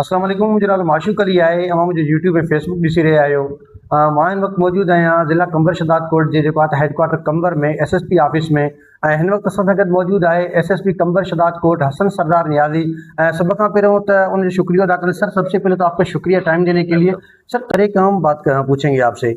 اسلام عليڪم منهنجو نالو معشوق علي آهي اوهان منهنجو يوٽيوب ۽ فيس بڪ ڏسي رهيا آهيو مان هن وقت موجود آهيان ضلع قمبر شهداد ڪوٽ جي جيڪو آهي headquarter Qambar ۾ S S P office ۾ ۽ هن وقت اسان سان گڏ موجود آهي S S P Qambar Shahdadkot Hassan Sardar Niazi ۽ سڀ کان پهريون ته ان جو شڪريو ادا ڪري سر سب سي پهلي تو آپ کا شڪريه ٽائم ڏيڻي ڪي ليي سر پري ڪام بات ڪرڻ پوڇينگي آپ سي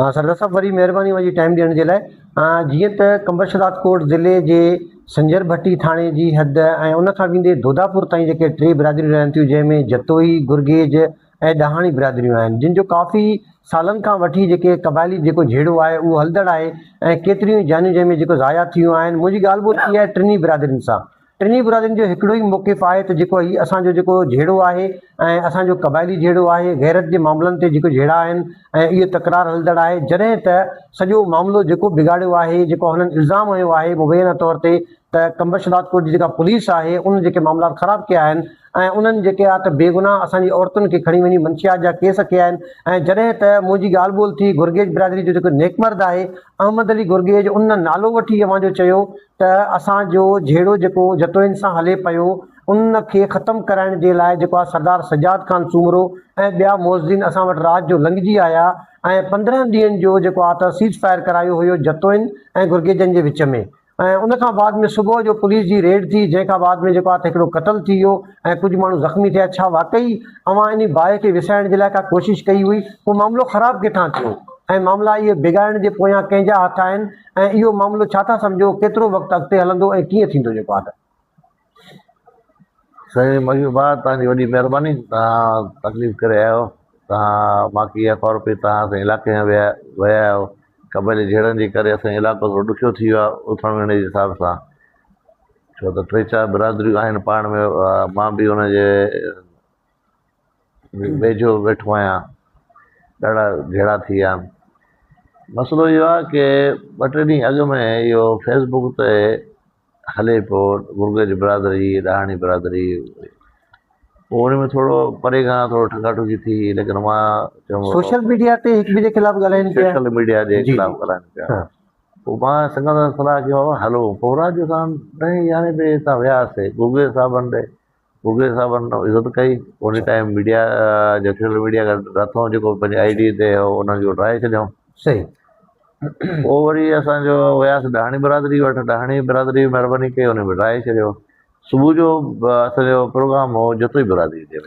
ها سردار صاحب وري مهرباني اوهان جي ٽائيم ڏيڻ جي لاء جيئن ته قمبرش راجڪوٽ ضلعي جي سنجر ڀٽي ٿاڻي جي حد ۽ ان کان ويندي دوداپور تائين جيڪي ٽي برادريون رهن ٿيون جنهن ۾ جتوئي، گرگيج ۽ ڏاهاڻي برادريون آهن جن جو ڪافي سالن کان وٺي جيڪي قبائلي جيڪو جهيڙو آهي اهو هلندڙ آهي ۽ ڪيتريون ئي جانيون جنهن ۾ جيڪو ضايع ٿيون آهن منهنجي ڳالهه ٻولهه ٿي آهي ٽنهي برادرين سان ٽنهي برادرين جو هڪڙو ئي موقف آهي ته جيڪو هي اسان جو جيڪو جهيڙو آهي ۽ اسان جو قبائلي جهيڙو آهي، غيرت جي معاملن تي جيڪو جهيڙا آهن ۽ اهو تڪرار هلندڙ آهي جڏهن ته سڄو معاملو جيڪو بگاڙيو آهي جيڪو هنن الزام هنيو آهي مبينا طور تي ته ڪمبشبادڪوٽ جي جيڪا پوليس آهي ان جيڪي معاملات خراب ڪيا آهن ۽ انهن جيڪي آهي ته بيگناهه اسان جي عورتن کي کڻي وڃي منشيات جا ڪيس ڪيا آهن ۽ جڏهن ته منهنجي ڳالهه ٻولهه ٿي گرگيج برادري جو جيڪو نيڪ مرد آهي احمد علي گرگيج ان نالو وٺي اوهان جو چيو ته اسان جو جهيڙو جيڪو جتوئين سان هلي پيو ان کي ختم ڪرائڻ جي لاء جيڪو آ سردار سجاد خان سومرو ۽ ٻيا معززين اسان وٽ رات جو لنگهجي آيا ۽ پندرهن ڏينهن جو جيڪو آ ته سيز فائر ڪرايو هيو جتوئين ۽ گرگيجن جي وچ ۾ ۽ ان کان بعد ۾ صبح جو پوليس جي ريڊ ٿي جنهن کان بعد ۾ جيڪو آ ته هڪڙو قتل ٿي ويو ۽ ڪجهه ماڻهو زخمي ٿيا ڇا واقعي اوهان انهي باهه کي وسائڻ جي لاء ڪا ڪوشش ڪئي هئي پوء معاملو خراب ڪٿان ٿيو ۽ معاملا اهي بگاڙڻ جي پويان ڪنهن جا هٿ آهن ۽ اهو معاملو ڇا ٿا سمجهو ڪيترو وقت اڳتي هلندو ۽ ڪيئن ٿيندو جيڪو آرڊر. سائين ميون بار توهان جي وڏي مهرباني توهان تڪليف ڪري آيا آهيو توهان ماکي يا ڪارو پي توهان اسان جي علائقي ۾ ويا ويا آهيو قبائلي جهيڙن جي ڪري اسان جو علائقو ٿورو ڏکيو ٿي ويو آهي اٿڻ ويهڻ جي حساب سان ڇو ته ٽي چار برادريون آهن پاڻ ۾ مان به ان جي ويجهو ويٺو آهيان ڏاڍا جهيڙا ٿي ويا آهن مسئلو اهو آهي ڪي ٻه ٽي ڏينهن اڳ ۾ اهو فيس بڪ تي هلي پيو گرگج برادري ڏاهاڻي برادري پوء ان ۾ ٿورو پري کان ٿورو ٺڳا ٺڳي ٿي ليڪن مان چيم سوشل ميڊيا تي هڪ ٻئي جي خلاف ڳالهائين پيا سوشل ميڊيا جي خلاف ڳالهائين پيا پوء مان سنگت سان صلاح ڪيم هلو پوء رات جو اسان ڏهين يارهين بجي هتان وياسي گرگج صاحبن ڏي بگلي صاحب ان عزت ڪئي ان ٽائيم ميڊيا جيڪو ميڊيا رٿون جيڪو پنهنجي آئي ڊي تي هو ان کي ڊرائي ڇڏيائون صحيح پوء وري اسان جو وياس ڏاهاڻي برادري وٽ ڏاهاڻي برادري مهرباني ڪئي ان به ڊرائي ڇڏيو صبح جو اسان جو پروگرام هو جتوئي برادري تي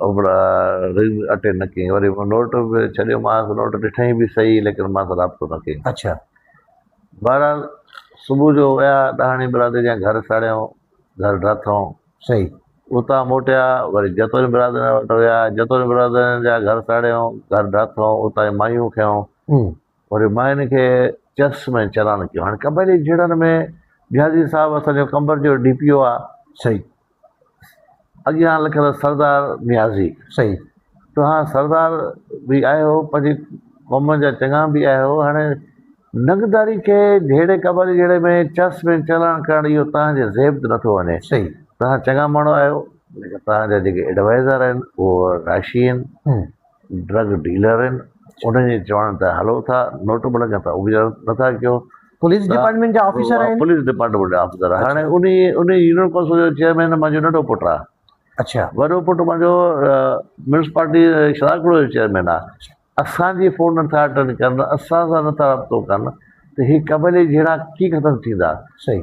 رنگ اٽينڊ نه ڪيائين وري نوٽ به ڇڏيومانس نوٽ ڏٺائين به صحيح ليڪن مان سان رابطو نه ڪيائين اڇا بهرحال صبح جو ويا ڏاهاڻي برادري جا گهر ساڙيائون گهر ڊاٿائون صحيح اتان موٽيا وري جتوئين برادرين وٽ ويا جتوئين برادرين جا گهر ساڙيائون گهر ڊاٿائون اتان جي مايون کنيائون امم وري ماين کي چرس ۾ چلان ڪيو هاڻي قبائلي جهيڙن ۾ جهازي صاحب اسان جو قمبر جو ڊي پي او آ صحيح اڳيان لکيل سردار نيازي صحيح توهان سردار به آهيو پنهنجي قوم جا چڱا به آهيو هاڻي ننگداري کي جهيڙي قبالي جهيڙي ۾ چس ۾ چلاڻ ڪرڻ اهو توهان جي زيب تي نٿو وڃي صحيح توهان چڱا ماڻهو آهيو ليڪن توهان جا جيڪي ايڊوائيزر آهن اهو راشي آهن ڊرگ ڊيلر آهن انهن جي چوڻ تي هلو ٿا نوٽ بلڪ تان اجرا نٿا ڪيو پوليس ڊپارٽمينٽ جا آفيسر آهن پوليس ڊپارٽمينٽ جا آفيسر آهن هاڻي انهي انهي يونين ڪونسل جو چيئرمين منهنجو ننڍو پٽ آهي اڇا وڏو پٽ منهنجو ميونسپالٽي شراڪڙو جو چيئرمين آهي اسان جي فون نٿا اٽينڊ ڪن اسان سان نٿا رابطو ڪن ته هي قبيلي جهيڙا ڪيئن ختم ٿيندا صحيح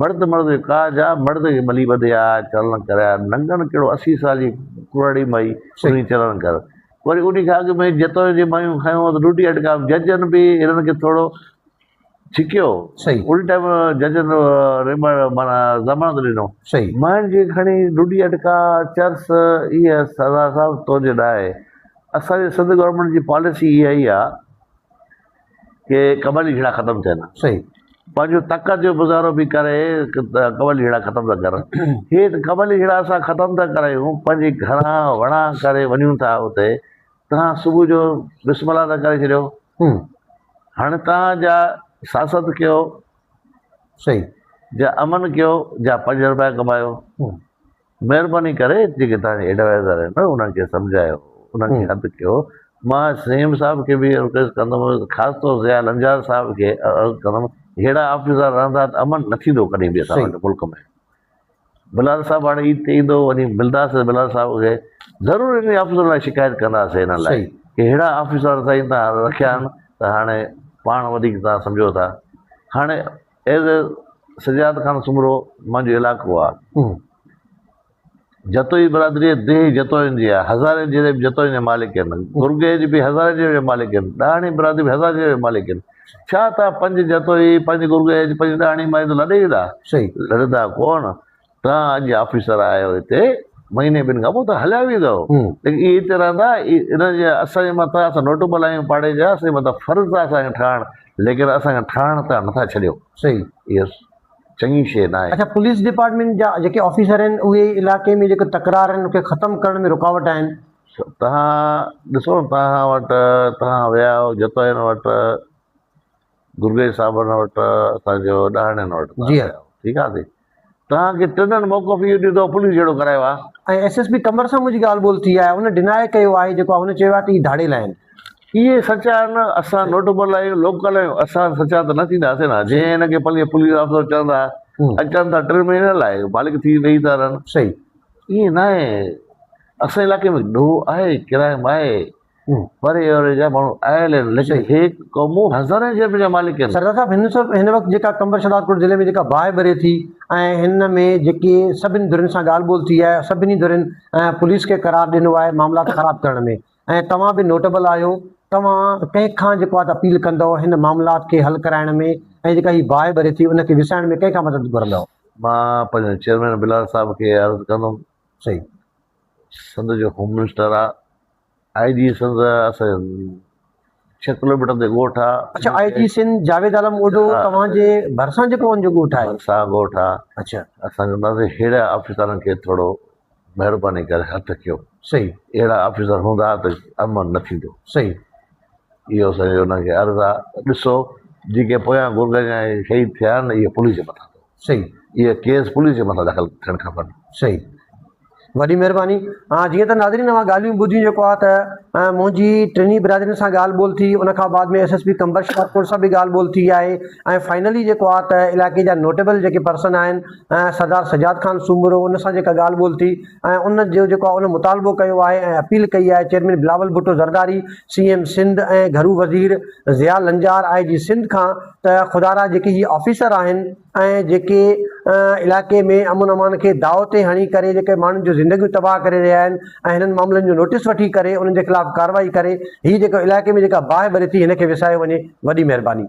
مرد مرد کي ڪاهه جا، مرد کي ٻلي ٻڌي آء، چرڻ ڪري آء، ننگڻ ڪهڙو اسي سال جي ڪرڙي مئي، سهي چرڻ ڪر. وري انهي کان اڳ ۾ جتوئين جي مئيون کنيون ته ڏوڍي اٽڪا ججن به هنن کي ٿورو ڇڪيو، ان ٽائيم ججن ريمڙ معنيٰ ضمانت ڏنو. مئين کي کڻي ڏوڍي اٽڪا چرس اي سردار صاحب تنهنجي ڏاهي. اسان جي سنڌ گورنمينٽ جي پاليسي اها ئي آ ڪي قبائلي جھيڙا ختم ٿين ها صحيح پنهنجو طاقت جو مظاهرو به ڪري قبائلي جھيڙا ختم ٿا ڪرن هي ته قبائلي جھيڙا اسان ختم ٿا ڪرايون پنهنجي گھرا وڻا ڪري وڃون ٿا اتي تهان صبح جو بسم الله ٿا ڪري ڇڏيو هاڻي تهان جا سياست ڪيو صحيح جا امن ڪيو جا پنج روپيا ڪمايو مهرباني ڪري جيڪي توهان جي ايڊوائيزر آهن انهن کي سمجهايو انهن کي هٿ ڪيو مان سيم صاحب کي به رڪويسٽ ڪندم خاص طور ضياء لنجار صاحب کي عرض ڪندم ههڙا آفيسر رهندا ته امن نه ٿيندو ڪڏهن به اسان وٽ ملڪ ۾ بلال صاحب هاڻي عيد تي ايندو وڃي ملداس بلال صاحب کي ضرور انهن آفيسرن لاء شڪايت ڪنداسين انهن لاء ڪي ههڙا آفيسر سائين تان رکيا آهن ته هاڻي پاڻ وڌيڪ تان سمجهو ٿا هاڻي ايز اي سجاد خان سومرو منهنجو علائقو آ جتوئي برادري ديهي جتوئين جي آ هزارين جيري به جتوئين جا مالڪ هين گرگيج به هزارين جيري جا مالڪ هين ڏاهڻي برادري به هزارين جيري جا مالڪ هين ڇا تان پنج جتوئي پنج گرگيج پنج ڏاهڻي مائي ته لڏي ويندا صحيح لڏندا ڪون تان اڄ آفيسر آهيو هتي مهيني ٻن کان پوء ته هليا ويندؤ ليڪن اهي هتي رهندا ان جي اسان جي مٿان اسان نوٽبل آهيون پاڙي جا اسان جي مٿان فرض آهي اسان کي ٺاهڻ ليڪن اسان کي ٺاهڻ تان نٿا ڇڏيو صحيح اهو چڱي شيء ناهي. اڇا پوليس ڊپارٽمينٽ جا جيڪي آفيسر آهن اهي علائقي ۾ جيڪي تڪرار آهن ان کي ختم ڪرڻ ۾ رڪاوٽ آهن. توهان ڏسو توهان وٽ توهان ويا آهيو جتوئين وٽ. گرگيج صاحبن وٽ اسان جو ڏاهڙين وٽ جي ها ٺيڪ آ سي توهان کي ٽنن موقف اهو ڏيو ته پوليس جهڙو ڪرايو آ. ۽ ايس ايس پي قمبر سان منهنجي ڳالهه ٻولهه ٿي آهي ان ڊناء ڪيو آهي جيڪو هن چيو آهي ته هي ڌاڙيل آهن. اهي سچا آهن اسان نوٽبل آهيون لوڪل آهيون اسان سچا ته نه ٿيندا سين ها جي هن کي پنهنجي پوليس آفيسر چون ٿا اچن ٿا ٽن مهينن لاء مالڪ ٿي رهي ٿا رهن صحيح اهي ناهي اسان علاقي ۾ ڏوهه آهي ڪرائم آهي پر اي اوري جا ماڻهو آيل آهن، ليڪن هي قومون هزارين جيب جا مالڪ آهن. سرزا صاحب هن سب هن وقت جيڪا قمبر شهدادپور ضلعي ۾ جيڪا باهه ٻري ٿي ۽ هن ۾ جيڪي سڀني ڌرين سان ڳالهه ٻولهه ٿي آهي سڀني ڌرين ۽ پوليس کي قرار ڏنو آهي معاملات خراب ڪرڻ ۾ ۽ توهان به نوٽبل آهيو توهان ڪنهن کان جيڪو آهي ته اپيل ڪندؤ هن معاملات کي حل ڪرائڻ ۾ ۽ جيڪا هي باهه ٻري ٿي ان کي وسائڻ ۾ ڪنهن کان مدد گهرندؤ. مان پنهنجي چيئرمين بلال صاحب کي عرض ڪندم سائين سنڌ جو هوم منسٽر آ. آء جي سنڌ اسان ڇهه ڪلوميٽر تي ڳوٺ آ. اڇا آء جي سنڌ جاويد عالم اوڍو توهان جي ڀرسان جيڪو ان جو ڳوٺ آهي. ڀرسان ڳوٺ آ. اڇا. اسان چونداسين ههڙي آفيسرن کي ٿورو مهرباني ڪري هٿ ڪيو. صحيح. اهڙا آفيسر هوندا ته امن نه ٿيندو. صحيح. اهو اسان جو انهن کي عرض آ ته ڏسو جيڪي پويان گرگئن جا شهيد ٿيا آهن اهي پوليس جي مٿان اٿو. صحيح. اهي ڪيس پوليس جي مٿان داخل ٿيڻ کپن. صحيح. وڏي مهرباني. ها جيئن ته ناظرين اوهان ڳالهيون ٻڌيون جيڪو آهي ته منهنجي ٽنهي برادرين سان ڳالهه ٻولهه ٿي ان کان بعد ۾ S S P Qambar Shikarpur سان به ڳالهه ٻولهه ٿي آهي ۽ فائنلي جيڪو آهي ته علائقي جا نوٽيبل جيڪي پرسن آهن سردار سجاد خان سومرو ان سان جيڪا ڳالهه ٻولهه ٿي ۽ ان جو جيڪو آهي ان مطالبو ڪيو آهي ۽ اپيل ڪئي آهي chairman Bilawal Bhutto Zardari C M Sindh ۽ گهرو وزير ضياء لنجار آء جي سنڌ کان ته خدا را جيڪي هي آفيسر آهن ۽ جيڪي علائقي ۾ امن امان کي داء تي هڻي ڪري جيڪي ماڻهن جون زندگيون تباهه ڪري رهيا آهن ۽ هنن معاملن جو نوٽيس وٺي ڪري انهن جي خلاف ڪارروائي ڪري هي جيڪو علائقي ۾ جيڪا باهه ٻري ٿي هن کي وسايو وڃي وڏي مهرباني.